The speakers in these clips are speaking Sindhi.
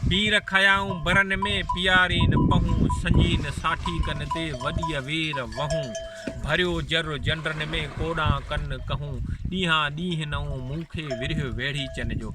پير کنيائون برن ۾، پيارين پهون، سنجين ساٺي ڪن تي، وڏيء وير وهون، ڀريو جر جنڊن ۾، ڪوڏان ڪن ڪهون، ڏينهان ڏينهن نئون، مون کي ورهيو ويڙهيچن جو.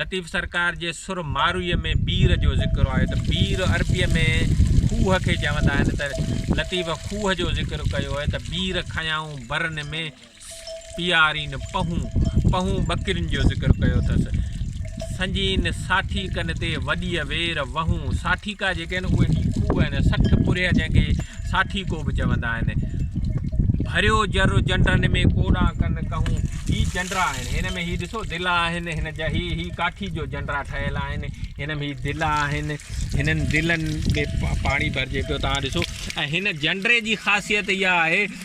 لطيف سرڪار جي سر مارويء ۾ بير جو ذڪر آيو ته بير عربيء ۾ کوهه کي چوندا آهن ته لطيف کوهه جو ذڪر ڪيو آهي ته بير کنيائون برن ۾، پيارين پنهون پنهون ٻڪرين جو ذڪر ڪيو اٿس. سنجين ساٺي ڪن تي وڏيء وير وهون ساٺيڪا جيڪي آهن اهي هي کوهه آهن سٺ پرهيه جنهن کي ساٺيڪو به چوندا آهن. ڀريو جر جنڊرن ۾ ڪوڏا ڪن ڪهون هي جنڊرا آهن هن ۾ هي ڏسو دلا آهن هن جا هي هي ڪاٺي جو جنڊرا ٺهيل آهن هن ۾ هي دلا آهن هنن دلن ۾ پاڻي ڀرجي پيو تان ڏسو ۽ هن جنڊري جي خاصيت اها آهي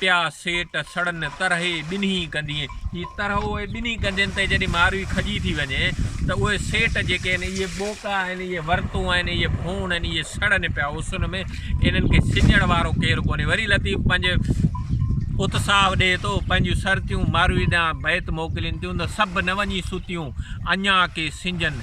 پيا سيٽ سڙن ترهي ٻنهي ڪنڌين هي ترهو اهي ٻنهي ڪنڌين تي جڏهن ماروي کڄي ٿي وڃي ته اهي سيٽ جيڪي آهن اهي ٻوڪا آهن اهي ورتون آهن اهي ڀون آهن اهي سڙن پيا اسن ۾ انهن کي سڄڻ وارو ڪير ڪونهي وري لطيف پنهنجي اتساهه ڏئي ٿو پنهنجيون سرتيون ماروي ڏانهن بيت موڪلين ٿيون ته سڀ نه وڃي ستيون اڃا ڪي سنجن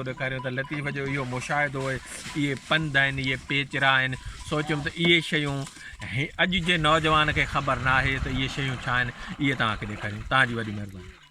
ڪندو ڏيکاريو ته لطيف جو اهو مشاهدو اهي پنڌ آهن، اهي پيچرا آهن، سوچيم ته اهي شيون اڄ جي نوجوان کي خبر ناهي ته اهي شيون ڇا آهن، اهي توهان کي ڏيکاريون، توهان جي وڏي مهرباني.